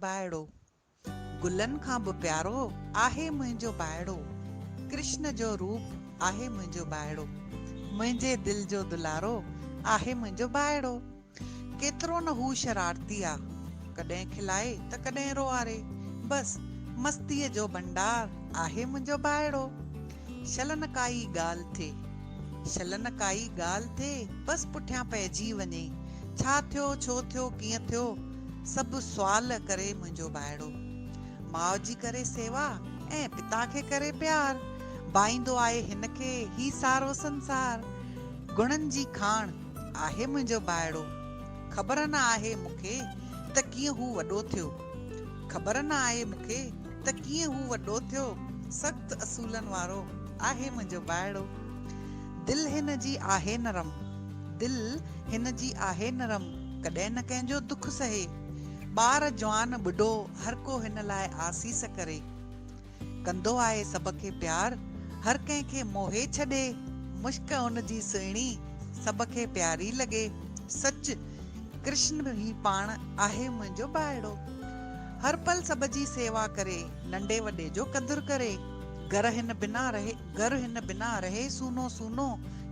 ڀائڙو، گلن کان به پيارو آهي منهنجو ڀائڙو، ڪرشن جو روپ آهي منهنجو ڀائڙو، منهنجي دل جو دلارو آهي منهنجو ڀائڙو، ڪيترو نه هو شرارتي آ، ڪڏهن کلائي ته ڪڏهن روئاري، بس مستيء جو ڀنڊار آهي منهنجو ڀائڙو. شلن ڪائي ڳالهه ٿئي. شلن ڪائي ڳالهه ٿئي، بس پٺيان پئجي وڃي. ڇا ٿيو، ڇو ٿيو، ڪيئن ٿيو؟ سڀ سوال ڪري منهنجو ڀائڙو. ماء جي ڪري سيوا ۽ پتا کي ڪري پيار. ڀائيندو آهي هن کي هي سارو سنسار. گڻن جي کاڻ آهي منهنجو ڀائڙو. خبر نه آهي مون کي ته ڪيئن هو وڏو ٿيو. خبر نه آهي مون کي ته ڪيئن هو وڏو ٿيو، سخت اصولن وارو آهي منهنجو ڀائڙو. دل هن جي آهي نرم، دل هن جي آهي نرم، ڪڏهن نه ڪنهن جو دک سهي. ٻار جوان ٻڍو هرڪو هن لاء آسيس ڪري. ڪندو آهي سڀ کي پيار، هر ڪنهن کي موهي ڇڏي. مشڪ ان جي سهڻي، سڀ کي پياري لڳي. سچ، ڪرشن هي پاڻ، آهي منهنجو ٻائڙو. هر پل سڀ جي سيوا ڪري، ننڍي وڏي جو قدر ڪري. گهر هن بنا رهي، گهر هن بنا رهي سونو سونو.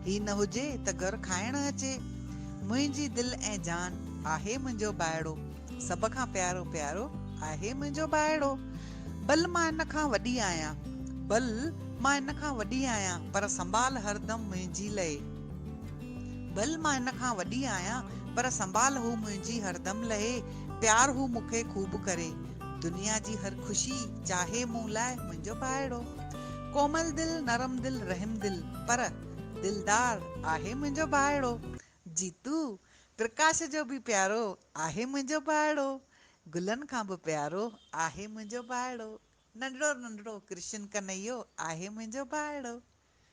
هي نه هجي ته گهر کائڻ اچي. منهنجي دل ۽ جان، آهي منهنجو ٻائڙو. سڀ کان پيارو پيارو آهي منهنجو ٻائڙو. ڀل مان ان کان وڏي آهيان. ڀل مان ان کان وڏي آهيان پر سنڀال هردم منهنجي لهي. ڀل مان ان کان وڏي آهيان پر سنڀال هو منهنجي هردم لهي. پيار هو مون کي خوب ڪري. دنيا جي هر خوشي چاهي مون لاء منهنجو ٻائڙو. ڪومل دل، نرم دل، رحم دل پر دلدار آهي منهنجو ٻائڙو. جيتو، پرڪاش جو به پيارو آهي منهنجو ڀائڙو گلن کان به پيارو آهي منهنجو ڀائڙو ننڍڙو ننڍڙو ڪرشن ڪنهيو آهي منهنجو ڀائڙو.